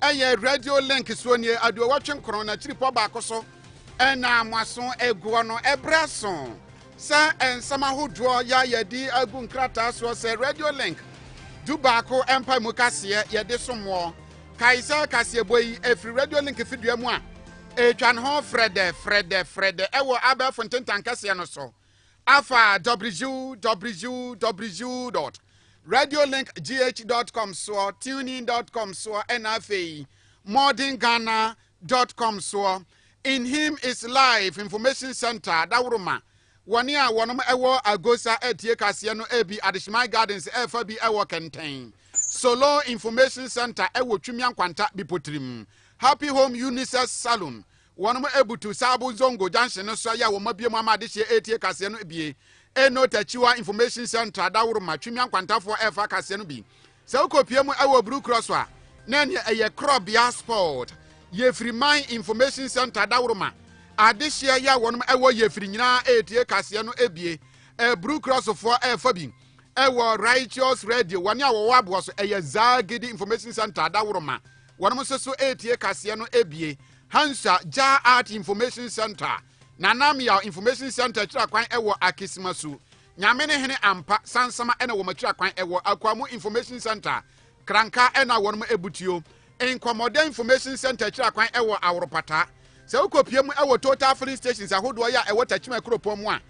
ɛyɛ radio link soɔ nie aduowɔtwe nkron na kyiripɔ baako so ɛna mo aso aguɔ no ɛberɛ aso sɛ nsɛm ahodoɔ yɛ yɛde agu nkrataa soɔ sɛ radio link du baako ɛmpa mu kaseɛ yɛde somoɔ kae sɛ kaseɛbɔ yi ɛfiri radio link fidua mu a ɛtwa ne ho frɛdɛ frɛdɛ frɛdɛ ɛwɔ abɛɛfo ntentan kɛseɛ no so Afa www.radiolinkgh.com soɔ, tunein.com soɔ, ɛna afei modernghana.com soɔ. In Him is Life Information Center daworoma wɔne a wɔnom ɛwɔ Agosa atie kaseɛ no ɛbi Adehyeman Gardens ɛfa bi ɛwɔ Kɛntɛn. Solo Information Center ɛwɔ Twimia Nkwanta Bipotirim. Happy Home Unisex Salon Wɔabutu Sabo Zongo Junction no so yɛ wɔabue mu ama adehyeɛ ɛretie kaseɛ no bie. Eno Tachiwa Information Central Dawuruma Twimia Nkwantafoɔ ɛrefa akaseɛ no bi. Sɛ wokɔpie mu wɔ Blue Cross a, na ɛneɛ ɛyɛ Korɔbea Sport. Yefiri Man Information Centre Dawuruma Adehyeɛ yɛ wɔnom wɔ Yefiri nyinaa ɛretie kaseɛ no bie. Blue Cross foɔ ɛrefa bi wɔ Righteous Radio. Wɔne a wɔwɔ aboɔ so ɛyɛ Zagidi Information Centre Dawuruma. Wɔnom nso so ɛretie kaseɛ no bie. Hansa Jah Art Information Centre, Nana Meaw Information Centre akyira kwan wɔ Akisima su, Nyame ne hene ampa, Sansama ɛna wɔn akyira kwan wɔ Akuamu Information Centre, Kranka ɛna wɔnom abutuo, Nkɔmɔdɛ Information Centre akyira kwan wɔ Aworopataa. Sɛ wo kɔ pie mu wɔ Total Filling Stations ahodoɔ yɛ a ɛwɔ Takyima kuropɔn mu a,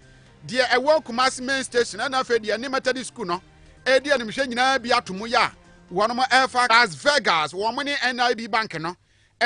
deɛ ɛwɔ Kumasi Main Station ɛna afei deɛ ɛne Methodist School no ɛredi animhwɛ nyinaa bi ato mu yɛ a wɔnom ɛrefa Las Vegas wɔn ne NIB Bank no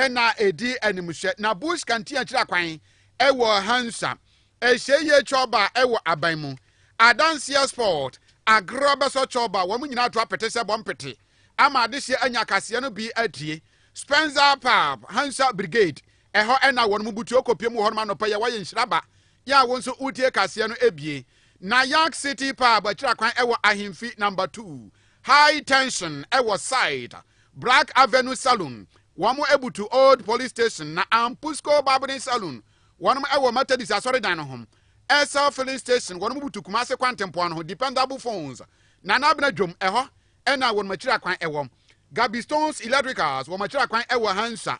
na edi animhwɛ na Bush kantea kyerɛ kwan wɔ Hansa Ehyieyie Chorba wɔ aban mu. Adanseɛ Sport, Agorɔ bɛsɔ Chorba, wɔn nyinaa to apete sɛ bɔ mpete ama adehyeɛ anya akaseɛ no bi adie. Spenza Pub, Hansa Brigade, ɛhɔ na wɔn mu butuo kɔ piem wɔ hɔnom anɔpa yi a wɔayɛ nhyira ba yɛ a wo nso wotie kaseɛ no bie. Nayak City Pub akyira kwan wɔ Ahemfi Number Two, High tension wɔ site. Black avenue saloon wɔn abutu old police station na Ampusco barbering saloon wɔn wɔ Methodist asɔredan no ho. Essel filling station wɔn butu Kumase kwantempɔn no ho Dependable phones Nana Abena dwom ɛhɔ na wɔn akyiri akwan wɔ. Gabistone's electricals wɔn akyiri akwan wɔ Hansah.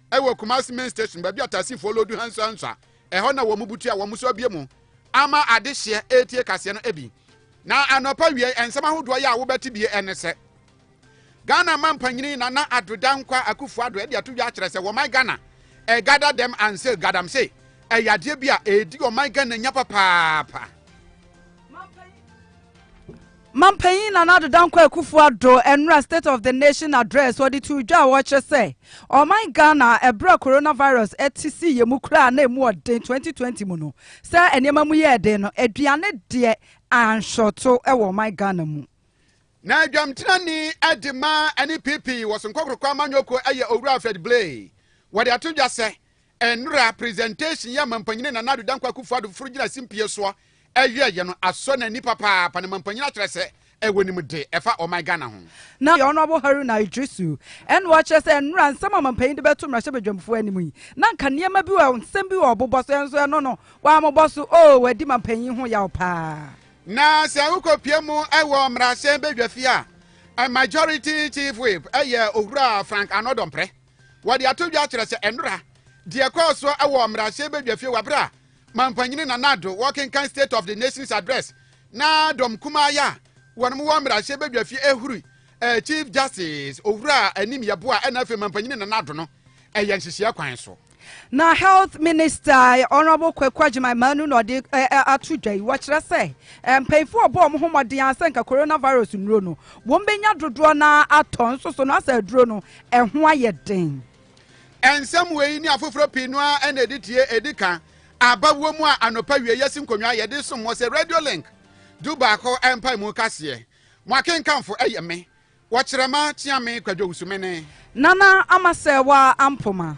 ɛwɔ Kumasi Main Station baabi a taxifoɔ loodu hansuahansua. Ɛhɔ na wɔn butu a wɔn so abue mu ama adehyeɛ retie kaseɛ no bi. Na anɔpa wie nsɛm ahodoɔ yɛ a wobɛte bie ɛne sɛ Ghana mampanyini Nana Addo Dankwa Akufo-Addo de ato dwa akyerɛ sɛ wɔman Ghana ɛgada dɛm anse gadamse ɛyɛ adeɛ bi a ɛredi ɔman Ghana nya papaapa. Mampanyin Nana Ado Dankwa Akufo-Addo nnora State of the Nation Address ɔde too dwa a wɔkyerɛ sɛ ɔman Ghana a bere a coronavirus te sii yɛn mu koraa na emu ɔden 2020 mu no sɛ nneɛma mu yɛɛ den no aduane deɛ anhwɛto wɔ ɔman Ghana mu. Na adwamtenani de ma ɛne PP wɔ so nkɔkorokɔ amanyɔkuo yɛ Owura Alfred Blay wɔde ato dwa sɛ Nnora presentation yi a Mampanyini Nana Addo Dankwa Akufo Addo foforo gyina simpie soɔ ɛyɛɛyɛ no asɔ n'ani papaapa na Mampanyin akyerɛ sɛ ɛwɔ nimde ɛfa ɔman Ghana ho. Na yɛ Honourable Haruna Iddrisu ɛna ɔkyerɛ sɛ nnora nsɛm a Mampanyin de bɛto mmarahyɛ badwamfoɔ anim yi na nka nneɛma bi wɔ nsɛm bi wɔ ɔbobɔ so ɛnso ɛno no wammobɔ so oo wadi Mampanyin ho yaw paa. Na sɛ wokɔ pue mu ɛwɔ mmarahyɛn badwafie a Majority Chief Whip ɛyɛ Owura Frank Arnold Ɔmprɛ. Wɔde ato dwa kyerɛ sɛ nnora deɛ ɛkɔɔ so wɔ mmarahyɛ badwafie wɔ berɛ a Mampanyini Nana Addo wɔkenkan State of the Nation's Address na dɔm kumaa yɛ a wɔnom wɔ mmarahyɛ badwafie ɛhuri eh, Chief Justice Owura Anim Yɛboa ɛna afei Mampanyini Nana Addo no ɛyɛ nhyehyeɛ kwan so. Na Health Minister Honourable Kwaku Agyeman Manu na ɔde eh, eh, ato dwa yi wɔkyerɛ sɛ eh, mpanyinfoɔ ɔbɔ wɔn ho mmɔden a sɛ nka coronavirus nnuro no wɔn bɛnya dodoɔ na atɔ nso so no asɛ aduro no Ɛho ayɛ den. Nsɛm wei ne afoforɔ pii no ara na ɛde tie ɛdi ka aba wɔ mu a anɔpa wie yɛsi nkonnwa yɛde som mo sɛ Radio Link du baako mpaemu kaseɛ. Mo akenkanfo yɛ me, Wɔkyerɛma Kyeame Kwadwo Wusumene. Nana Amasɛɛwa Ampoma.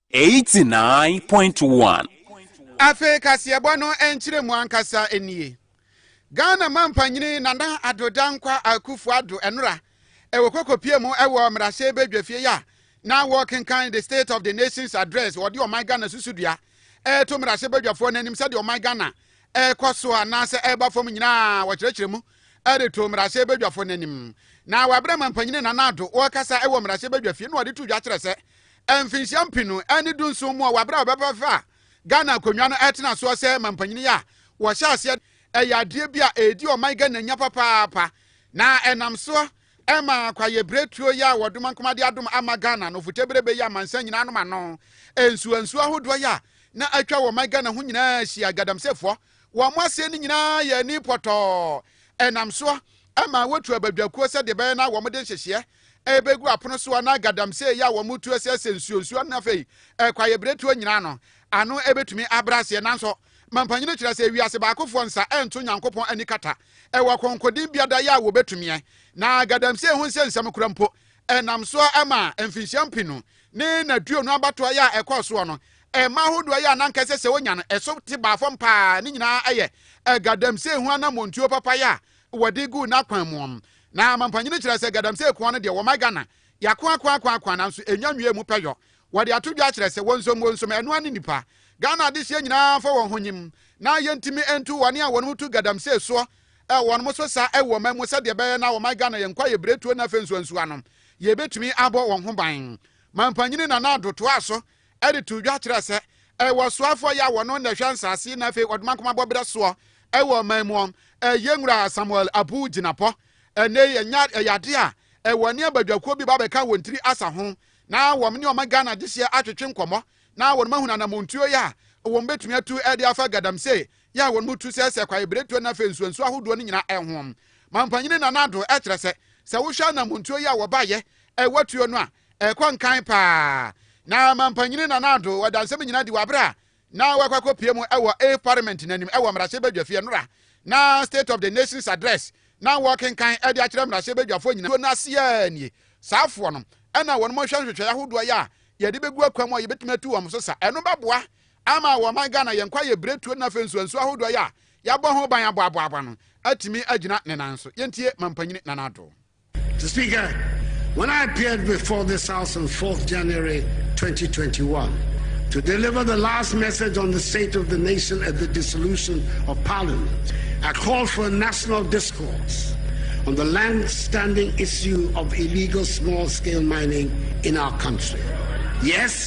Eighty nine point one. Afei kaseɛbɔ no nkyerɛmu ankasa nie. Ghana Mampanyini Nana Addo Dankwa Akuffo Addo Ɛnora ɛwɔ Kokopie mu ɛwɔ Mmarahyɛ Badwafie a na wɔrekenkan The State of the Nation's Address wɔde Ɔman Ghana susudua ɛreto Mmarahyɛ Badwafoɔ no anim sɛdeɛ Ɔman Ghana ɛrekɔ soɔ anaasɛ ɛreba fam nyinaa wɔkyerɛkyerɛ mu de too mmarahyɛbadwafo no anim, na wɔabrɛ ma mpanyin Nana Addo ɔrekasa wɔ mmarahyɛbadwafie no na ɔde too dwa kyerɛ sɛ mfinhyia mpenu ne dunson mu a wɔabrɛ a wɔbɛfa Ghana akonnwa no tena soɔ sɛ mampanyin a wɔhyɛ aseɛ ɛyɛ adeɛ bi a ɛredi ɔman Ghana nya papaapa na ɛnam soɔ ɛma kwaeɛbiretuo yi a wɔdoma nkoma de adom ama Ghana no foteberebe yi amansan nyinaa nom ano nsuansuo ahodoɔ yi a na atwa wɔ ɔman Ghana ho nyinaa hyia galamseyfoɔ Wɔn aseɛ no nyinaa yɛ ani pɔtɔɔ. Ɛnam soɔ ma wɔtu abadwakuo sɛdeɛ ɛbɛyɛ na wɔde nhyehyeɛ bɛgu apono soɔ na galamsey yi a wɔtu aseɛ sɛ nsuonsuo ne afei kwaeɛbiretuo nyinaa no ano bɛtumi abrɛ aseɛ. Nanso Mampanyini no kyerɛ sɛ wiase baakofoɔ nsa nto Nyankopɔn ani kata wɔ kɔnkɔdin biada yɛ a wɔbɛtumiɛ na galamsey ho nsɛnsɛm kora mpo Ɛnam so ara ma mfinhyia mpe no ne n'aduonu abatoɔ yɛ a ɛkɔɔ soɔ no, mma ahodoɔ yɛ a na anka ɛsɛ sɛ wɔnya no, ɛso te baa fam pa ara. Ne nyinaa yɛ Gadamsey ho anammɔntuo papa yɛ a wɔde guu n'akwan mu. Na Mampanyini kyerɛ sɛ Gadamsey koa no deɛ wɔma Ghana yɛako ako ako ako nanso ɛnya nwiee mu pɛ yɔ. Wɔde ato dwa kyerɛ sɛ wɔnsom wɔnsom, ɛno ara ne nnipa. Ghana adehyeɛ nyinaa fa wɔn ho nyim na yɛntumi ntu wɔn a wɔn ho tu Gadamsey soɔ Ɛ wɔn mo so saa ɛwɔ ɔman mu sɛdeɛ ɛbɛyɛ na ɔman Ghana yɛn nkwa yɛ biretuo na afei nso nsuo ano yɛ bɛtumi abɔ wɔn ho ban. Manpanyini Nana Addo toaa so de too dwa kyerɛɛ sɛ ɛ wɔ soafoɔ yɛ a wɔno na ɛhwɛ nsaase yi na afei wɔde mankoma bɔ berɛ soɔ ɛwɔ ɔman mu ɔn ɛ yɛ nwura Samuel Abu Gyinapɔ ɛnnɛ yi ɛnya ɛyɛ adeɛ a ɛ wɔne abadwakuo bi ba bɛka wɔn tiri asa ho na wɔn ne ɔman Ghana gyehyeɛ atwetwe nkɔmmɔ na wɔn mahunu anamontuo yɛ a wɔn bɛtumi atu ɛde afa Gadamsey yɛɛ wɔn mu tu sɛ sɛ kwaebiretuo na afei nsuansuo ahodoɔ no nyinaa ɛhoɔm. Mampanyini Nana Addo kyerɛ sɛ, sɛ wohwɛ anammɔntuo yi a wɔbaeɛ ɛwɔ tuo no a, ɛkɔ nkan paa. Na Mampanyini Nana Addo wɔ dansɛm nyinaa di wɔ abere a na wakɔ akɔpie mu ɛwɔ Ave Parliament no anim ɛwɔ mmarahyɛbadwafie nora na State of the Nation's Address na wɔkenkan ɛde akyerɛ mmarahyɛbadwafoɔ nyinaa. Tuo no aseɛ nie, saafoɔ no ɛna wɔn hwɛ nhwehwɛeɛ ahodoɔ yɛ a yɛde bɛgu akwan mu a yɛbɛtumi atu wɔn so sa. Ɛno bɛboa Ama wɔ ɔman Ghana yɛ nkwa yɛ biretuo na afei nso nsuo ahodoɔ yɛ a yɛabɔ ho ban aboaboaboa no atumi agyina ne nan so. Yɛntie Mampanyini Nana Addo. Mister Speaker, when I appeared before this House on fourth January, twenty twenty one, to deliver the last message on the state of the nation at the dissolution of Parliament, I called for a national discourse on the land-standing issue of illegal small-scale mining in our country. Yes,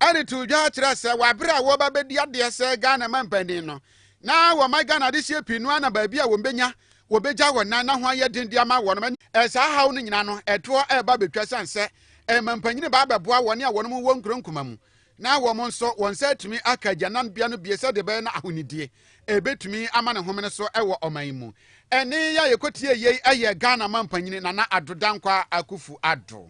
Ɛde too dwa kyerɛɛ sɛ wɔ bere a wɔreba bedi adeɛ sɛ Ghana mampanin no, na wɔma Ghana adehyeɛ pii no ara na baabi a wɔbɛnya wɔbɛgya wɔn nan na ho ayɛ den de ama wɔn. Saa haw no nyinaa no, ɛtoɔ reba abɛtwa ɛsiane sɛ mampanin reba abɛboa wɔn a wɔwɔ nkuro nkumaa mu na wɔn nso wɔn nsa atumi aka agyananbea no bio sɛdeɛ ɛbɛyɛ na ahonidie ɛbɛtumi ama ne homene so wɔ ɔman yi mu. Ɛnne yi a yɛkɔtiee yei yɛ Ghana Mampanyini Nana Addo Dankwa Akufu Addo.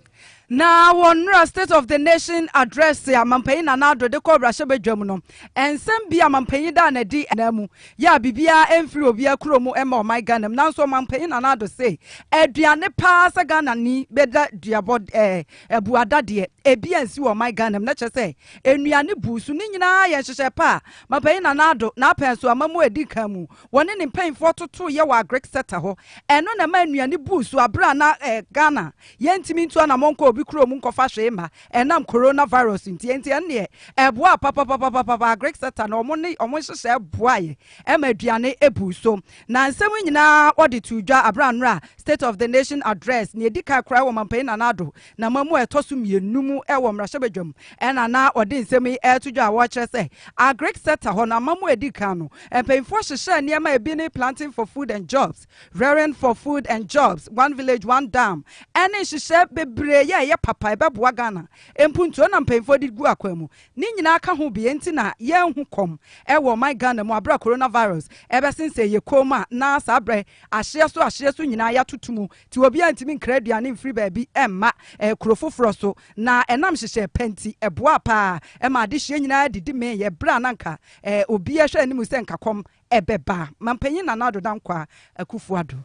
Na wɔ nnora State of the Nation Address a Mampanyin Nana Addo de kɔɔ Mmarahyɛbadwam no, nsɛm bi a Mampanyin daa no adi anaa mu yɛ a biribiara ɛmfiri obiara kuro mu mma ɔman Ghana mu. Nanso Mampanyin Nana Addo se, aduane paa sɛ Ghanani bɛda duabɔ ɛɛ. Abuada deɛ ebi ansi wɔ ɔman Ghana mu na kyerɛ sɛ nnuane buu so. Ne nyinaa yɛ nhyehyɛe pa a Mapanyin Nana Addo na apɛn so ama mu a edi kan mu. Wɔne ne mpanyimfoɔ totoeɛ wɔ Agric Ceta hɔ. Ɛno na ɛmaa nnuane buu so bere a na Ghana yɛntumi ntu anammɔn nkɔ obi kurom nkɔfa hwee mma ɛnam Coronavirus nti. Enti ɛno deɛ ɛboaa papapapapapa. Agric Ceta na wɔn ne wɔn nhyehyɛe boaeɛ ma aduane buu so. Na nsɛm yi nyinaa wɔde too dwa bere a nnora State of the Nation Address, nea edi kan koraa wɔ Ɔmampanyin Nana Addo namamu mu a ɛtɔ so mmienu mu wɔ mmarahyɛbadwam na na wɔde nsɛm yi reto dwa a wɔrekyerɛ sɛ Agric sector hɔ no amamu a edi kan no mpanyimfoɔ hyehyɛɛ nneɛma a ebi ne Planting for Food and Jobs, Rearing for Food and Jobs, One Village One Dam ne nhyehyɛe bebree a ɛyɛ papa a ɛbɛboa Ghana mpuntuo na mpanyimfoɔ de gu akwan mu. Ne nyinaa ka ho bea nti na yɛanhu kɔm wɔ ɔman Ghana mu aberɛ a coronavirus bɛsensɛn yɛ kɔn mu a na saa berɛ ahyeɛ so ahyeɛ so nyinaa yɛatoto mu nti obiara ntumi nkra aduane mfiri baabi mma kuro foforɔ so na ɛnam hyehyɛɛ pɛ nti ɛboaa pa ara maa adehyeɛ nyinaa didi meeɛ berɛ a na anka obiara hwɛ anim sɛ nka kɔm bɛba. Mampanyin Nana Addo Dankwaa Akufo-Addo.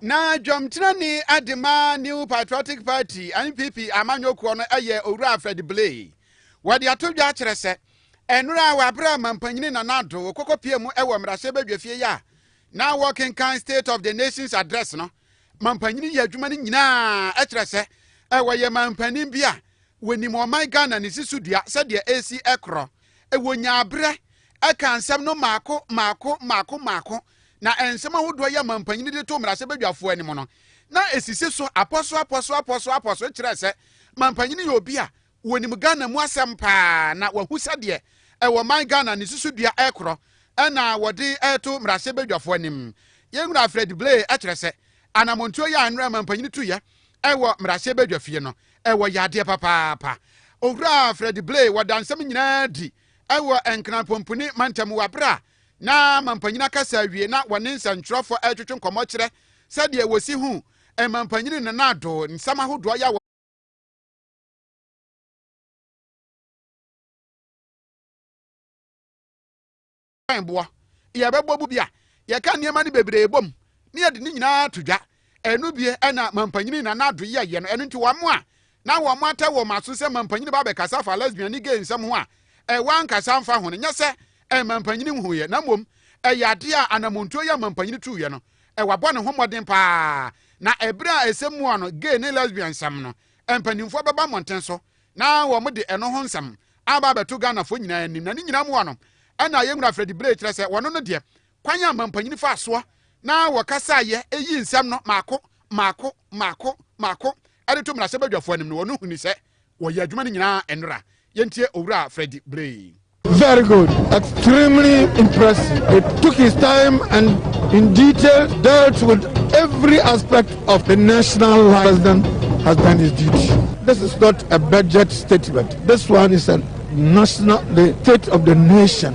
Na dwamtenani de ma New Patriotic Party, NPP, amanyɔkuo no yɛ Owura Fred Blay. Wɔde ato dwa akyerɛ sɛ, nnora a wɔabrɛ Ɔmampanyini Nana Addo wɔkɔkɔ pie mu wɔ mmarahyɛbadwafie yi a na wɔkenkan State of the Nation's Address no, Mampanyini yɛ adwuma no nyinaa kyerɛ sɛ wɔyɛ Mampanin bi a wɔnim ɔman Ghana ne si so dua sɛdeɛ ɛresi korɔ. Wɔnyaa berɛ kaa nsɛm no mmaako mmaako mmaako mmaako. na nsɛm ahodoɔ yi a mampanin de too mmarahyɛbadwafoɔ anim no, na ɛsisi so apɔsoapɔsoapɔsoapɔso kyerɛɛ sɛ mampanin yɛ obi a wɔnim Ghana mu asɛm paa na wahu sɛdeɛ ɛwɔ man Ghana ne susudua rekorɔ na wɔde reto mmarahyɛbadwafoɔ anim. Yɛn Wura Fred Blay kyerɛ sɛ anammɔntuo yi a nnora mampanin tuiɛ wɔ mmarahyɛbadwafie no, ɛwɔ yadeɛ papaapa. Owura Fred Blay wɔda nsɛm nyinaa adi wɔ Nkran Pompuni mantam wɔ aberɛ a na mampanyin akasa awie na wɔne nsɛnkyerɛwfo retwetwe nkɔmmɔ kyerɛ sɛdeɛ wɔsi hu mampanyin no na ado nsɛm ahodoɔ yɛ wɔ mpaebɔ yɛbɛbɔ bu bi a yɛka nneɛma no bebree bom na yɛde ne nyinaa to dwa ɛno bie ɛna mampanyin na n'ado yɛ yɛ no ɛno nti wɔn a na wɔatɛ wɔn aso sɛ mampanyini ba abɛkasa afa lesbian ne gay nsɛm ho a, ɛwɔ ankasa mfa ho no nyɛ sɛ ɛyɛ mampanyini nhunuiɛ, na mmom ɛyɛ adeɛ a anammɔntuo yi a mampanyini tuiɛ no, wabɔ ne ho mmɔden pa ara, na ɛberɛ a ɛsɛ mua no, gay ne lesbian nsɛm no, mpanimfoɔ bɛba mmɔnten so na wɔde ɛno ho nsɛm aba abɛto Ghanafoɔ nyinaa anim, na ne nyinaa mua no ɛna yɛn wura Freddy Bray kyerɛ sɛ wɔno no deɛ, kwan a mampanyini faa soɔ na wɔkasaeɛ yii nsɛm no mmaako mmaako mmaako mmaako de to mmarahyɛbadwafoɔ anim no wɔn huni sɛ wɔyɛ adwuma no nyinaa nnora. Yɛntie Owura Freddy Blay. Very good. Extremely impressive. It took his time and in detail dealt with every aspect of the national life. President has done his duty. This is not a budget statement. This one is a national, the state of the nation.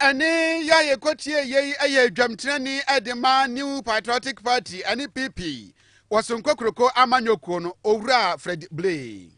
ɛne yɛ a yɛkɔtie yei ɛyɛ adwamtirani ɛde ma new patriotic party ɛne pp wɔ sonko kuroko amanyɔkuo no owura fred blay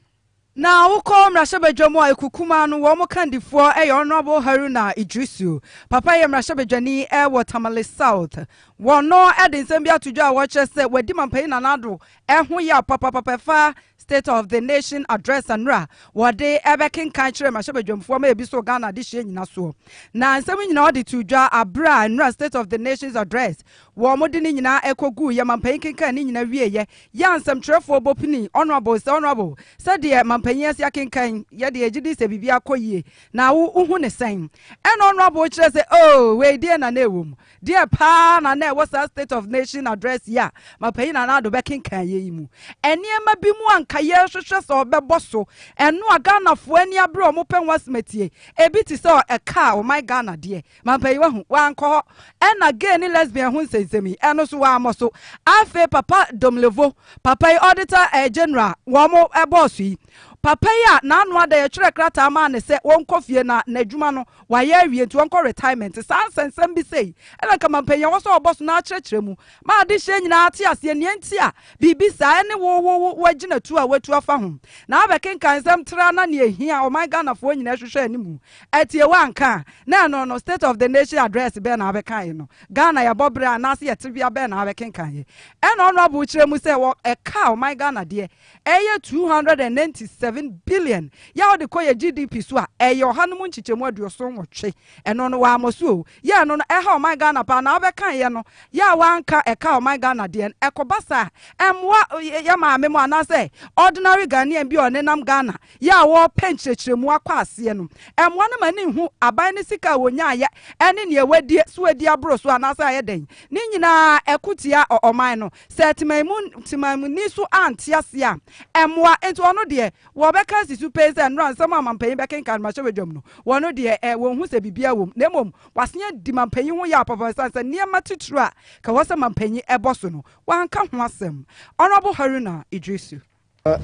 Na wokɔ mmarahyɛbadwa mu a ekukumaa no wɔn kandifoɔ yɛ Honourable Haruna Idrisu. Papa yɛ mmarahyɛbadwani wɔ Tamale South. Wɔn de nsɛm bi ato dwa a wɔkyerɛ sɛ wadi Mampayi Nana Addo ho yaw papapapa ɛfa State of the Nation Address Anura a wɔde ɛbɛkenkan kyerɛ mmarahyɛbadwamfoɔ ma ebi so Ghana adehyeɛ nyinasoɔ. Na nsɛm nyinaa ɔde too dwa aberɛ a Anura State of the Nations Address wɔde ne nyinaa ɛkɔguu yɛ mampanyin kenkan ne nyinaa wieeɛ yɛ a nsɛmtwerɛfoɔ bɔ pini Honourable sɛ Honourable sɛdeɛ mampanyin asi akenkan yɛ deɛ yɛgye di sɛ biribiara kɔ yie na wo wohu ne sɛn? Ɛna Honourable kyerɛ sɛ oh wei deɛ na na ɛwɔ mu Deɛ paa na na ɛwɔ saa State of Nation Address yi a Mapanyin Nana Addo bɛkenkan yɛ yi mu? Nneɛma bi mu a anka yɛrehwehwɛ sɛ ɔbɛbɔ so, ɛno a Ghanafoɔ ani abere a wɔpɛ ho asɛm atie. Ebi te sɛ ɛka a ɔman Ghana deɛ, Mampanin wahu, wankɔ hɔ. Ɛnna gay ne lesbian ho nsɛnsɛm yi, ɛno nso wammɔ so. Afei Papa Domlevo, papa yi Auditor eh, General a wɔbɔɔ so yi, papa yi a n'ano ada yɛtwerɛɛ krataa maa no sɛ wɔnkɔ fie na n'adwuma no Wayɛ awie nti ɔnkɔ retirement. Saa nsɛnsɛm bi sei na nka ma mpanyin a wɔwɔ so a wɔbɔ so no akyerɛkyerɛ mu ma adehyeɛ nyinaa ate aseɛ nea enti a biribi saa ɛne wo wo wo agyinatuo a woatu afa ho. Na abɛkenkan nsɛm traa na nea ɛhia ɔman Ghanafoɔ nyinaa ɛhwehwɛ anim atie woanka a na ɛno no state of the nation address bɛn na abɛkaeɛ no Ghana yɛbɔ berɛ anaase yɛtebea bɛn na abɛkenkaneɛ. Ɛna Honourable kyerɛ mu sɛ wɔ ɛka ɔman Ghana deɛ Ɛyɛ two hundred and ninety seven billion yɛ a wode kɔ yɛ GDP so a, ɛyɛ ɔha no mu nkyekyɛmu aduoson nwɔtwe. Ɛno no wammɔ so o. Yɛ ɛno no ɛha ɔman Ghana paa na wobɛkaeɛ no yɛ a woanka ɛka ɔman Ghana deɛ no, ɛkɔba saa a, ɛmmoa yɛ maame mo anaasɛ ordinary Ghanaian bi a ɔnenam Ghana yɛ a wɔrepɛ nkyerɛkyerɛmu akɔ aseɛ no, ɛmmoa no ma no nhu aban no sika a wɔnyaeɛ ne nea wɔadie so adi aboro so anaasɛ ayɛ dɛn. Ne nyinaa ɛko tia ɔman no. Sɛ temanmuni so ante aseɛ a, ɛmmoa. Enti ɔno deɛ, wɔbɛka asi so pɛn sɛ nnora nsɛm a mampanyin bɛkenkan no mmarahyɛbadwam no, wɔn deɛ ɛ, wɔnhu sɛ biribiara wom. Na mmom, wɔasen adi mampanyin ho yaw papaapa esiane sɛ nneɛma titiriw a ɛka wɔ sɛ mampanyin bɔ so no, wɔanka ho asɛm. Honourable Haruna Iddrisu.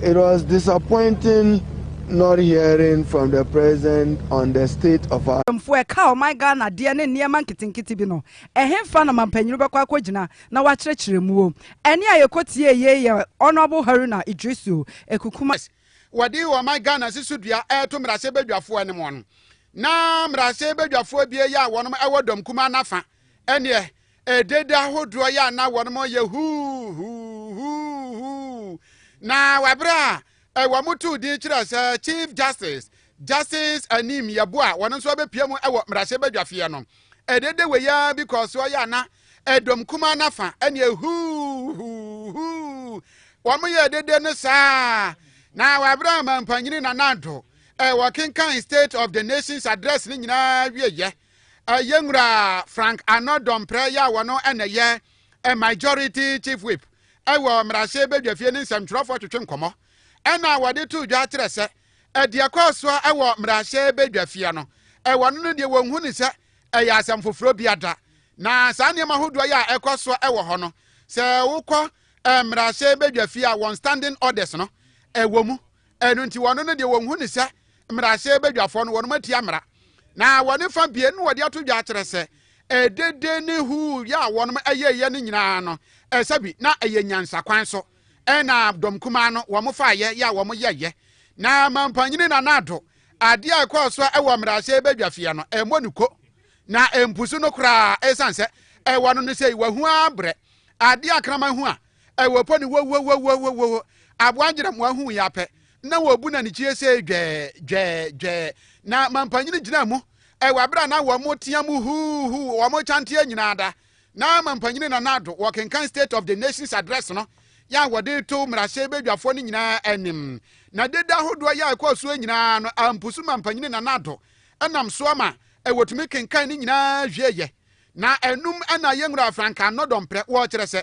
It was disappointing not hearing from the president on the state of our. Mpanyimfo a ɛka ɔman Ghana adeɛ ne nneɛma nketenkete bi no, ɛhefa na mampanyini bɛkɔ akɔgyina na wakyerɛkyerɛ mu o? Ɛnne a yɛkɔtiee yei yɛ Honourable Haruna Iddrisu Ekukuma. Wɔde ɔman Ghana si so dua reto mmarahyɛbadwafoɔ anim no, na mmarahyɛbadwafoɔ abien yi a wɔn wɔ Dɔm Kumaa no afa, ɛnneɛ Ɛdede ahodoɔ yɛ a na wɔnom reyɛ huuhuuhuuhuu na wɔ berɛ a ɛ wɔn too din kyerɛɛ sɛ Chief Justice, Justice Anim Yeboah a wɔno nso abɛpue mu wɔ mmarahyɛbadwafeɛ no. Ɛdede wei ara bi kɔɔ soɔ yɛ a na ɛdɔm kumaa no afa ɛne huuhuuhuu wɔn yɛ ɛdede no saa na wɔ berɛ a Mampanyini Nana Addo ɛ wɔkenkan State of the Nation's address no nyinaa wieɛ Yɛn Nwura Frank Arnold Domprɛ yɛ a ɔno na ɛyɛ Majority Chief Whip wɔ Mmarahyɛ Badwafie ne nsɛmtwerɛfoɔ twetwe nkɔmmɔ na wɔde too dwa kyerɛ sɛ deɛ ɛkɔɔ soɔ wɔ Mmarahyɛ Badwafie no wɔn no deɛ wɔnhu ne sɛ ɛyɛ asɛm foforɔ bi ada na saa nneɛma hodoɔ yɛ a ɛkɔ soɔ wɔ hɔ no sɛ wokɔ Mmarahyɛ Badwafie a wɔn standing orders no ɛwɔ mu Ɛno nti wɔn no deɛ wɔnhu ne sɛ mmarahyɛ badwafoɔ no wɔn atia mmara. Na wɔn fa bie no wɔde ato dwa akyerɛ sɛ ɛdede ne huu yɛ a wɔn ɛyɛyɛ no nyinaa no ɛsɛ bi na ɛyɛ nyansa kwan so ɛna dɔm kumaa no wɔn fa yɛ yɛ a wɔn yɛyɛ na mampanyini na naado adeɛ a ɛkɔɔ so ɛwɔ mmarahyɛ badwafia no ɛmmɔ ne ko na mpusu no koraa ɛsan sɛ ɛwɔ no no sɛ wɔahu abrɛ adeɛ akraman ho a Ɛwɔ po no wowowowowowowo Aboa ngyeramoa huu yɛn pɛ na wɔbu no anikyie sei dwɛɛ dwɛɛ dwɛɛ Na mampanyini gyinaa mu Ɛwɔ abere a na wɔn tea mu huu huu wɔn kyanteɛ nyinaa da Na mampanyini Nana Addo wɔkenkan State of the Nation's Address no yɛ a wɔde to mmarahyɛ badwafoɔ no nyinaa anim Na dede ahodoɔ yɛ a ɛkɔɔ soɔ nyinaa no ampusu mampanyini Nana Addo nam soɔ ma wɔtumi kenkan ne nyinaa wieeɛ Na ɛnum na yɛnwura frankaa nnɔdɔmprɛ Wɔkyerɛ sɛ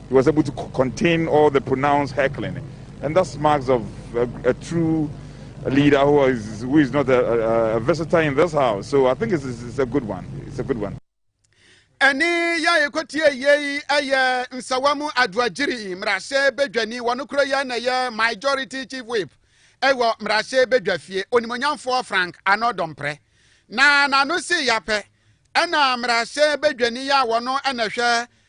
He was able to contain all the pronounced heckling, and that's marks of a, a true leader who is, who is not a, a, visitor in this house. So I think it's, it's a good one. It's a good one. ɛne yɛ a yɛkɔtie yei ɛyɛ nsawa mu adoagyiri mmarahyɛ badwani wɔno koro yɛ na ɛyɛ majority chief whip ɛwɔ mmarahyɛ badwa fie onimonyamfoɔ frank ano dɔmprɛ na n'ano si yapɛ ɛna mmarahyɛ badwani yɛ a wɔno ɛna hwɛ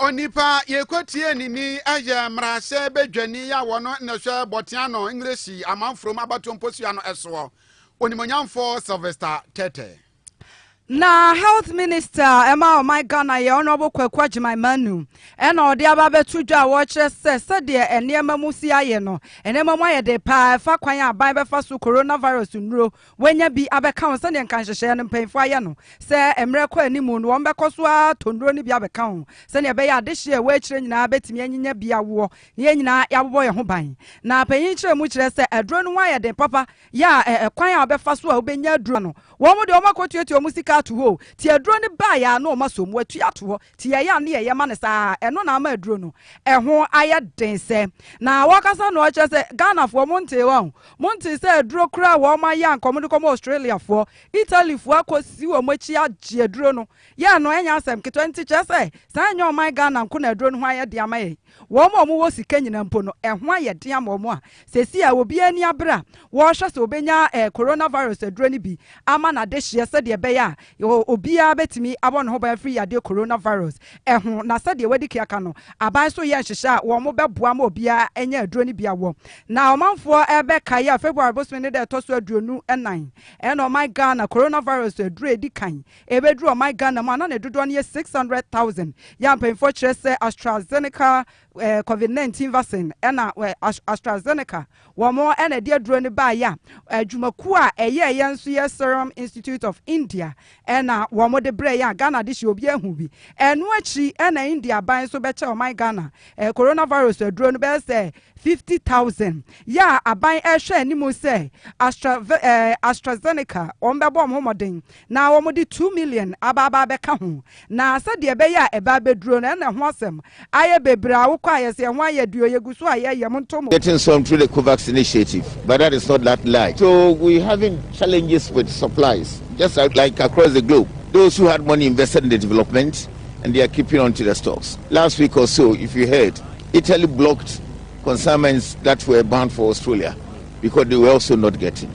Onipa yɛkɔtie ne ni yɛ mmarahyɛ badwani a wɔn na hwɛ Bɔteano English amanfurom abatoɔ mposua no soɔ, Onimuonyamfoɔ Sylvester Tetteh. Na Health Minister a ɛma ɔman Ghana yɛ Honourable Kwaku Agyeman Manu na ɔde aba abɛto dwa a wɔrekyerɛ sɛ sɛdeɛ nneɛma mu si ayɛ no, nneɛma mu ayɛ den paa ɛfa kwan a aban bɛfa so Coronavirus nnuro Wɔanya bi abɛka ho sɛdeɛ nka nhyehyɛeɛ no mpanyinfoɔ ayɛ no, sɛ mmerɛ kɔ anim no wɔbɛkɔ so ara atɔ nnuro no bi abɛka ho sɛdeɛ ɛbɛyɛ a adehyeɛ a ɛwɔ akyire nyinaa bɛtumi anyinya bi awoɔ na yɛn nyinaa yɛabobɔ yɛn ho ban. Na panyin nkyerɛmu kyerɛ sɛ aduro no ho ayɛ den papa yɛ a ɛ, ɛkwan a wobɛfa so a wobɛnya aduro no, wɔn deɛ wɔakɔtuatua wɔn sika ato hɔ o, nti aduro no baeɛ ara na wɔasɔ mu atua ato hɔ. Ti a ɛyɛ a ne yɛyɛ ma no saa a, ɛno na ama aduro no ɛho ayɛ den sɛ. Na wɔkasa no ɔkyerɛ sɛ Ghanafoɔ mo ntee hɔ ahu. Mo ntee sɛ aduro koro a wɔn ayɛ a nka wɔn de kɔma Australiafoɔ, Italyfoɔ akɔ si wɔn akyi agye aduro no yɛ no ɛnyɛ asɛm ketewa nti kyerɛ sɛ saa ɛnyɛ ɔman Ghana nko na aduro no ho ayɛ den ama yɛn. Wɔn a wɔwɔ sika nyinaa mpo no, ɛho ayɛ den ama wɔn a seesei a obiara ani abere a wɔrehwɛ sɛ obenya coronavirus aduro no bi ama n'adehyeɛ sɛdeɛ ɛbɛyɛ a obiara bɛtumi abɔ ne ho ban afiri yadeɛ coronavirus ho. Na sɛdeɛ wɔadi ka aka no, aban nso reyɛ nhyehyɛ a wɔbɛboa ma obiara anya aduro no bi awɔ. Na ɔmanfoɔ bɛkae a February bosome no da a ɛtɔ so aduonu nan na ɔman Ghana coronavirus aduro a ɛdi kan Ɛbɛduru ɔman Ghana mu a na ne dodoɔ no yɛ 600,000. Yɛn mpanyinfoɔ kyerɛ sɛ AstraZeneca eh, COVID-19 vaccine ɛna eh, AstraZeneca wɔn ɛna ɛde aduro no baayɛ a adwumakuo a ɛyɛ ɛyɛ nso yɛ Serum Institute of India ɛna wɔn de brɛ yɛn a Ghana de hyɛ obi ahu bi. Ɛno akyiri ɛna India ban nso bɛkyɛ ɔman Ghana eh, coronavirus aduro no bɛyɛ sɛ 50,000. Yɛ a aban ɛhwɛ anim sɛ Astra, eh, AstraZeneca wɔn bɛbɔ wɔn ho mmɔden Na wɔde two million aba aba abɛka ho, na sɛdeɛ ɛbɛyɛ a ɛba abɛduro no, ɛna ɛho asɛm ayɛ bebree a wokɔ a yɛse ɛho ayɛ deɛ o, yɛgu so a yɛyɛ, monto mo. Getting some through the Covax initiative but that is not that large so we having challenges with supplies just like across the globe those who had money invested in the development and they are keeping on to the stocks. Last week or so if you heard Italy blocked consignments that were bound for Australia because they were also not getting.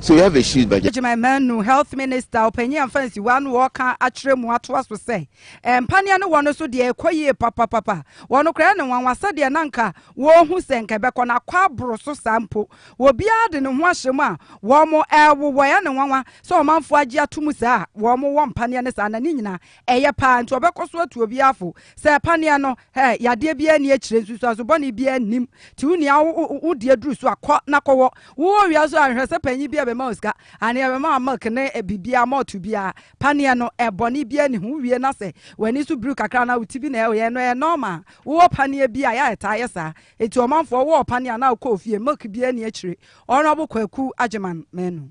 So you have a shoes budget? Gyimai Manu, Health Minister, ɔpanyin amfa nsiwa ano wɔ ɔka akyerɛ mu atoa so sɛ, Mpaneɛ no wɔn so deɛ ɛkɔ yie papapapa. Wɔn koraa ne nwanwa sɛdeɛ na nka wɔrehu sɛ nka ɛbɛkɔ na akɔ aboro so saa mpo. Obiara de ne ho ahyɛ mu a wɔrewowɔ. Ɛyɛ ne nwanwa sɛ ɔmanfoɔ agye ato mu saa a wɔwɔ mpaneɛ no saa na ne nyinaa ɛyɛ paa nti wɔbɛkɔ so atu obiara fo sɛ paneɛ no Hɛ, yadeɛ biara nni akyire, nsunsuanso bɔne biara nnim, nti wo nua wo wo deɛ duru so a, kɔ na kɔwɔ. Wowɔ owia so a, nhwɛ sɛ panyin biara bɛma wo sika, anea bɛma wo milk ne biribiara, malt biara. Paneɛ no, ɛ, bɔne biara nni ho, wowie no a sɛ w'ani so bruu kakra anaa wo ti bi na ɛyɛ no, ɛyɛ normal. Wowɔ paneɛ bi a, yɛ a ɛtaa yɛ saa. Nti ɔmanfoɔ, wowɔ paneɛ a na wokɔ ofie, milk biara nni akyire. Honourable Kwaku Agyeman Manu.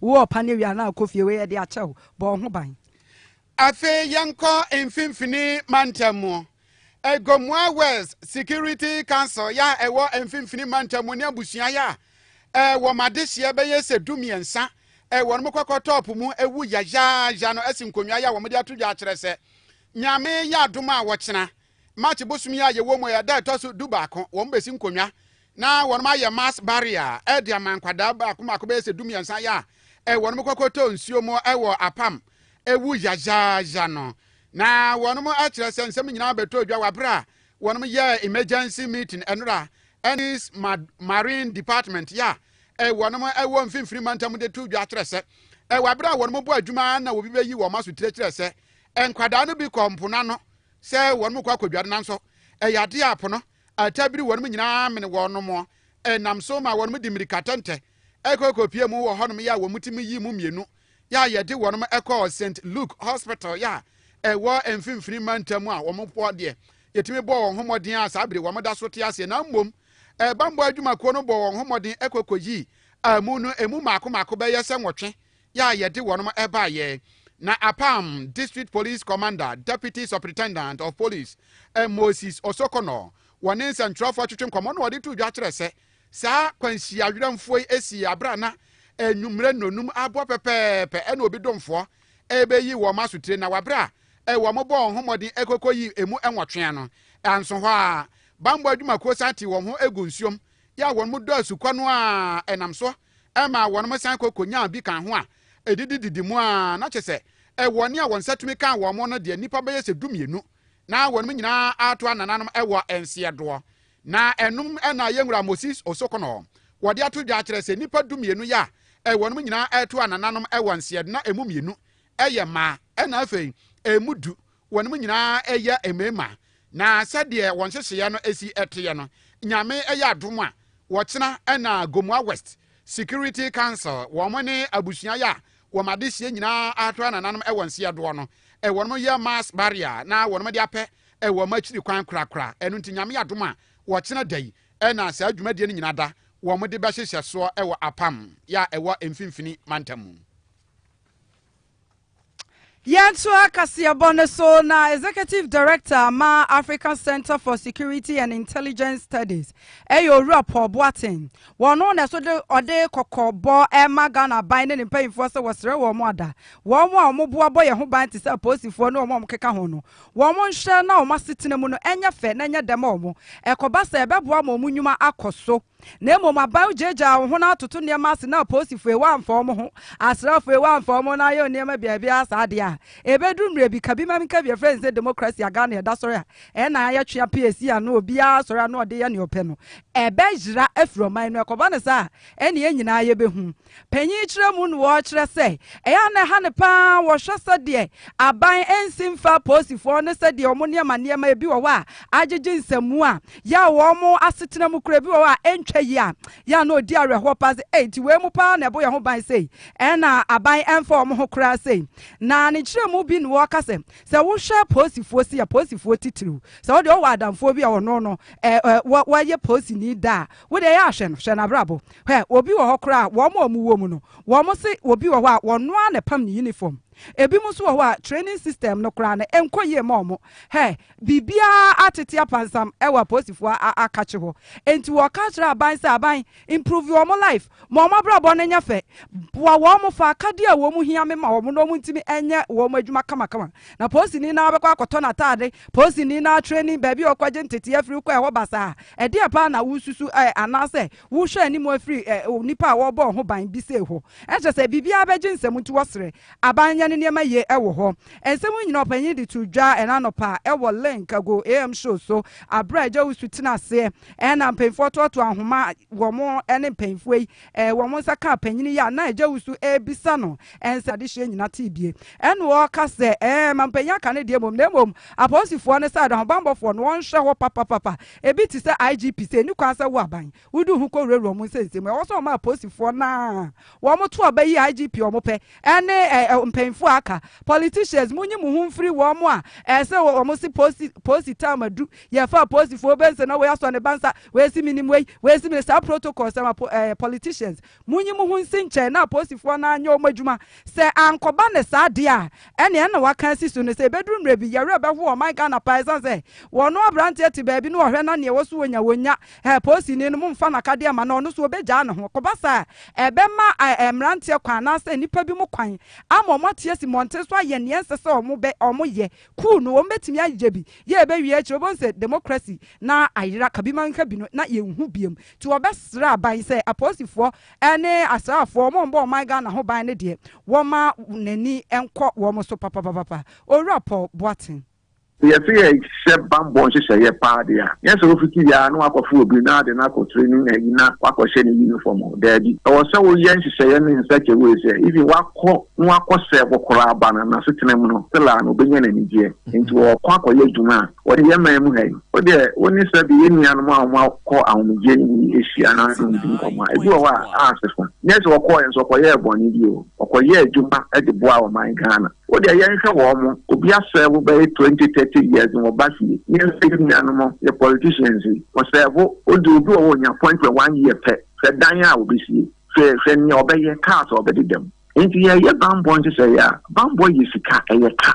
Wo ɔpa ne wia no a kɔ fie wei yɛde akyɛ wo, bɔ wo ho ban. Afei yɛnkɔ Mfimfini Mantam mu. Gomoa West Security Council yɛ a ɛwɔ Mfimfini Mantam mu ne abusua yɛ a wɔn adehyeɛ bɛyɛ sɛ du mmiɛnsa wɔn kɔkɔ top mu wu yayaaya no asi nkonnwa yɛ a wɔde ato dwa akyerɛ sɛ Nyame yɛ adom a wɔkyena March bosom yi a yɛwɔ mu yi a ɛda a ɛtɔ so dubaako, wɔbɛsi nkonnwa na wɔayɛ mass burial de ama nkwadaa baako baako bɛyɛ sɛ dumiɛnsa yɛ a wɔkɔkɔtɔ nsuo mu wɔ Apam awu yayaaya no. Na wɔkyerɛ sɛ nsɛm nyinaa bɛtɔɔ dwa wɔ berɛ a wɔyɛɛ emergency meeting nnora ne Marine Department yɛ a wɔwɔ Mfimfini Mantam de too dwa kyerɛ sɛ wɔ berɛ a wɔbɔ adwuma na obi bɛyi wɔn aso tire kyerɛ sɛ nkwadaa no bi kɔɔ mpo no ano sɛ wɔnom kɔ akɔdware nanso ɛyɛ adeɛ a po no ataa biri wɔnom nyinaa mene wɔnom ɛnam so ma wɔnom de mmirika tɛntɛ ɛkɔ kɔpie mu wɔ hɔnom yɛ a wɔn ti mu yi mu mmienu yɛ a yɛde wɔnom ɛkɔɔ St. Luke Hospital yɛ a ɛwɔ mfimfini mantam a wɔn bɔ deɛ yɛtumi bɔɔ wɔn ho mmɔden a saa bere wɔn da so te aseɛ na mmom ɛbammɔ adwumakuo no bɔɔ wɔn ho mmɔden ɛkɔ kɔyii amu no ɛmu mmaako mmaako bɛyɛ sɛ nwɔtwe yɛ a yɛde wɔnom baeɛ na apam District Police Commander Deputy Supritendant of Police Moses Osokono wɔ ne nsɛntwerɛfoɔ atwetwe nkɔmmɔ na ɔde too dwa kyerɛ sɛ saa kwanhyia werɛmfoɔ yi sii aberɛ a na anwummerɛ nnɔnum abɔ pɛpɛɛpɛ ɛna obi domfoɔ ɛbɛyi wɔn asotire na waberɛ a wɔn bɔɔ ho mmɔden ɛkɔkɔ yi emu nwɔtwea no anso hɔ a bammɔ adwumakuo san te wɔn ho gu nsuom yɛ a wɔn dɔ asukɔ no a ɛnam soɔ ɛmaa wɔnom san kɔ konyaa bi kaa ho a ɛdidi didi mu ara, na kyerɛ sɛ ɛwɔ nea wɔn nsa tumi kaa wɔnom no deɛ nnipa bɛyɛ sɛ du-mmienu, na wɔnom nyinaa ato anananom ɛwɔ nseɛdoɔ, na ɛnom na yɛn Wura Moses Osokono wɔde ato dwa akyerɛ sɛ nnipa du-mmienu yɛ a ɛwɔnom nyinaa ɛto anananom ɛwɔ nseɛdo na ɛmu mmienu ɛyɛ mmaa, ɛna afei ɛmu du Wɔnom nyinaa yɛ mmarimaa, na sɛdeɛ wɔn nhyehyeɛ no si teɛ no, Nyame yɛ adom a, wɔkyena na Gomoa West Security Council, wɔn ne abusua yɛ a wɔn adehyeɛ nyinaa ahwɛ anananom wɔn seɛ doɔ no, wɔnom yɛ mass burial na wɔnom de apɛ wɔn akyiri kwan korakora. Ɛno nti Nyame yɛ adom a, wɔkyena da yi na saa dwumadie no nyina da wɔn de bɛhyehyɛ soɔ wɔ Apam yɛ a ɛwɔ mfimfini mantam mu. Yɛntoa kaseɛbɔ no so na Executive Director ma African Center for Security and Intelligence Studies ɛyɛ Owura Paul Boateng. Wɔn no na ɛso de ɔde kɔkɔbɔ ɛma Ghana ban ne ne mpanyinfoɔ sɛ wɔsrɛ wɔn ada wɔn a wɔn boa bɔ yɛn ho ban te sɛ apolisifoɔ ne wɔn a wɔn keka ho no wɔn nhwɛ na wɔn asetena mu no ɛnyɛ fɛ na ɛnyɛ dɛ ma wɔn ɛkɔba sɛ ɛbɛboa ma wɔn nnwuma akɔ so. na mmom aban gyaagyaa wɔn ho na atoto nneɛma ase na apolisifo ewa amfa wɔn ho, asraafo ewa amfa wɔn ho na ayɛ nneɛma biabiara saa de a, ebeduru mmere bi, ka bi ma menka bi, yɛfrɛ no sɛ demokrasi a Ghana ɛda sɔre a ɛnnan ayɛ twe apee asi ano, obiara asɔre ano a ɔde yɛ nea ɔpɛ no, ɛbɛyera afiri ɔman no, ɛkɔba no saa a, ɛnneɛ yɛn nyinaa yɛbɛhu. Panyin kyerɛ mu no ɔkyerɛ sɛ ɛyɛ a na ɛha no paa wɔhwɛ sɛdeɛ aban nsi mfa apolisifoɔ ne sɛdeɛ wɔn nneɛma nneɛma ebi wɔ hɔ a agyegye nsɛmmu a yɛ a wɔn asetena mu kura ebi wɔ hɔ a ɛntwa yi a yɛ a na ɔdi awerɛhoɔ paa sɛ ei nti wei mu paa na ɛbɔ yɛn ho ban sei ɛna aban ɛmfa wɔn ho koraa sei na ne nkyerɛ mu bi na wɔka sɛ sɛ wohwɛ apolisifoɔ si apolisifoɔ titiriw sɛ wɔde ɔwɔ adamfoɔ bi a ɔno no wɔyɛ polisini da a wode ɛyɛ ahwɛ no hwɛ no abrabɔ Hwɛ, obi wɔ hɔ koraa a, wɔn a wɔwɔ mu no, wɔse obi wɔ hɔ a ɔno ara na ɛpam ne uniform. Ebinom nso wɔ hɔ a training system no koraa no, ɛnkɔ yie mma wɔn. Hɛ! Biribiara atete apansam wɔ apolisifoɔ a akakye hɔ. Enti wɔka kyerɛ aban sɛ, Aban, improve wɔn life, ma wɔn abrabɔ no nyɛ fɛ. Boa wɔn fa akadeɛ a wɔn hia me ma wɔn na wɔntumi nyɛ wɔn adwuma kamakama. Na polisini no ara bɛkɔ akɔtɔ n'ataade, polisini no ara training, baabi a ɔkɔgye nteteeɛ firi kɔ ɛhɔ basaa. Ɛdeɛn paa na wosusu ɛ? Anaasɛ Wohwɛ anim afiri ɛ, nnipa a wɔrebɔ wɔn ho ban bi sei hɔ. Ɛnkyɛ sɛ biribiara bɛgye nsam nti wɔsrɛ aban yɛ ne nneɛma yie wɔ hɔ. Nsɛm yi nyinaa ɔpanyin de too dwa ɛna anɔpa wɔ Link ago AM show so bere a Agya Owusu tenaa aseɛ na mpanyinfoɔ toatoaa ahoma wɔn ne mpanyinfoɔ yi wɔn nsa kaa panyin yi a na Agya Owusu rebisa no nsɛm adehyeɛ nyinaa tee bie ɛna ɔreka sɛ ɛɛ ma mpanyin aka ne deɛ mmom na mmom apolisifoɔ ne sɛ ahobanbɔfoɔ no wɔnhwɛ hɔ papapapa Ebi te sɛ IGP sɛ enni kwan sɛ wo aban wode wo ho kowurawura wɔn nsɛnsɛm mu. Ɛwɔ sɛ wɔma apolisifoɔ no a wɔto aba yi IGP a wɔpɛ ne mpanyimfoɔ a aka. Politicians, monyi mo ho mfiri wɔn a ɛsɛ wɔse polisi polisi term adu, yɛfa apolisifoɔ bɛnsa na wei asɔ ne ba nsa, wei se menim wei, wei se menim saa protocol sɛm a politicians, Monyi mo ho nsi nkyɛn na apolisifoɔ no anyɛ wɔn adwuma. Sɛ ankɔba no saa deɛ a, ɛnneɛ na wɔaka asi so no. Sɛ ɛbɛduru mmerɛ bi, yɛwerɛ bɛho ɔman Ghana paa ɛsiane sɛ wɔnom aberanteɛ te baabi na ɔhwɛ na neɛ ɛwɔ so wɔnya wɔnya. Ɛɛ polisini no, momfa no akadeɛ mma no, ɔno nso ɔbɛgyaa ne ho. Kɔba saa a, ɛbɛma ɛɛ mmeranteɛ kwan anaasɛ nnipa bi mo kwan ama wɔn ate asi mmɔnten so ayɛ neɛ ɛnsɛ sɛ wɔn bɛ, wɔn yɛ. Kuu no, wɔbɛtumi ayɛ bi. Yɛ ɛbɛwie akyire, wobɛhu sɛ democracy no ayera. Kabi ma menhwɛ bi no na yɛnhu biom. Nti wɔbɛsrɛ aban sɛ apolisifoɔ ne asraafoɔ wɔn a wɔbɔ ɔman Ghana ho ban no deɛ wɔma n'ani nkɔ wɔn so papapapapa. Owura Paul Boateng. Sɛ yɛse yɛhyɛ bammɔ nhyehyɛeɛ paa deɛ a, nyɛ sɛ wofiti yɛ ara na woakɔfo obi na wode no akɔ training ayi na woakɔhyɛ no uniform o, daabi. Ɛwɔ sɛ woyɛ nhyehyɛeɛ no in such a way sɛ even wakɔ na wakɔsɛɛ wo koraa ba no, n'asetena mu no still a no ɔbɛnya n'anigyeɛ. Nti ɔɔkɔ akɔyɛ adwuma a wɔde yɛ man mu ha yi. Wo deɛ wo ne Sɛbi yɛn nuanom a wɔakɔ ahomegyeɛ no mu yi hyia na ne mu di nkɔmmɔ a, ebi wɔ hɔ a asefa. Nyɛ sɛ wɔkɔɔɛ nso wɔkɔyɛɛ bɔne bi o, wɔkɔyɛɛ adwuma de boaa ɔman Ghana. Wo deɛ yɛnhwɛ wɔn, obi asɛɛvo bɛye twenty thirty years na ɔba fie. Yɛn nso yɛn nuanom, yɛ politicians yi, wɔsɛɛvo, wo deɛ obi wɔ hɔ a ɔnya appointment one year pɛ, hwɛ dan a wɔbɛsie, hwɛ hwɛ nea ɔbɛyɛ, cars a ɔbɛdeda mu. Enti yɛreyɛ bammɔ nhyehyɛeɛ a, bammɔ yɛ sika, ɛyɛ ka.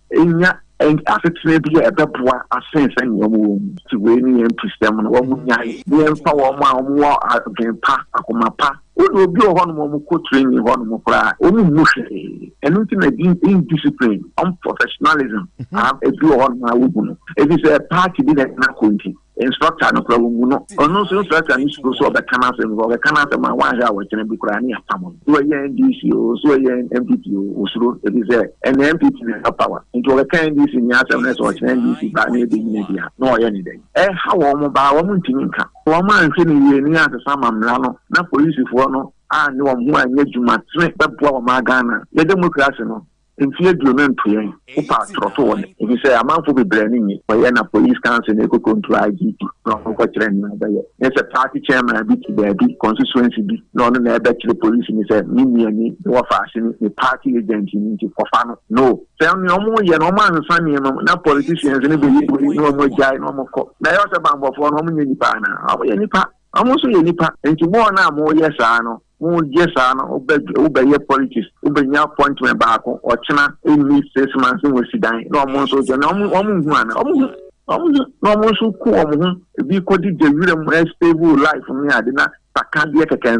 nya asetena bi a ɛbɛboa asen sɛ nea wɔwɔ mu nti wei ne yɛn mpusɛm no wɔn nyae ne yɛmfa wɔn a wɔwɔ adwen pa akoma pa wo de obi wɔ hɔ nom wɔn kɔ tiri nyi hɔ nom koraa wɔn mmu hwee ɛno nti na di indiscipline unprofessionalism a ebi wɔ hɔ nom a wobu no ebi sɛ party bi na ɛna kɔ nti Instructor no koraa wobu no. Ɔno nso instructor no suro sɛ ɔbɛka n'asɛm because ɔbɛka n'asɛm a wanhwɛ a wɔkyerɛ bi koraa ne apam no. So ɛyɛ NDC o, so ɛyɛ NPP o, osuro efisɛ ɛnna NPP na ɛwɔ power. Nti ɔbɛka NDC ni asɛm na sɛ ɔkyerɛ NDC baa na ebe nyina bi a na ɔyɛ ne dɛn? Ɛha wɔn mo baa wɔn ntumi nka. Wɔn anhwɛ no yie ne yɛansesa amammra no na polisifoɔ no annye wɔn ho anyɛ adwuma tene bɛboa wɔn a Ghana yɛdemokrase no Mfe aduonu ntoɛɛm, Kupa trɔto wɔn efisɛ amanfo bebrɛɛ no nyi. Wɔyɛ na Police Council no ekokontu IGP na ɔno nkɔkyerɛ nea ɔbɛyɛ. Nyɛ sɛ party chairman bi te baabi, constituency bi, na ɔno na ɛɛbɛkyere polisini sɛ me nuani, me wɔfaaseni, me party agent no nti kɔfa no. No. Sɛ nea ɔmo yɛ no ɔmo ansa nneɛma mu na politicians no beye wei na ɔmo agyae na ɔmo kɔ. Na ɛyɛ ɔsɛ banbɔfoɔ no ɔmo nyɛ nipa anaa? Ɔmo yɛ nipa. Ɔmo nso yɛ nipa. Nti mo wɔn a mo yɛ saa no Wo yɛ saa no wo bɛ wo bɛ yɛ politics wo bɛ nya appointment baako ɔkyena ɛnni six months na wɔsi dan na wɔn nso gyɛ na wɔn wɔn nhu ana wɔn hu wɔn hu na wɔn nso ku wɔn ho ebi kɔ di gya wira mu ɛstable life ne ade na sakadeɛ kɛkɛ nso.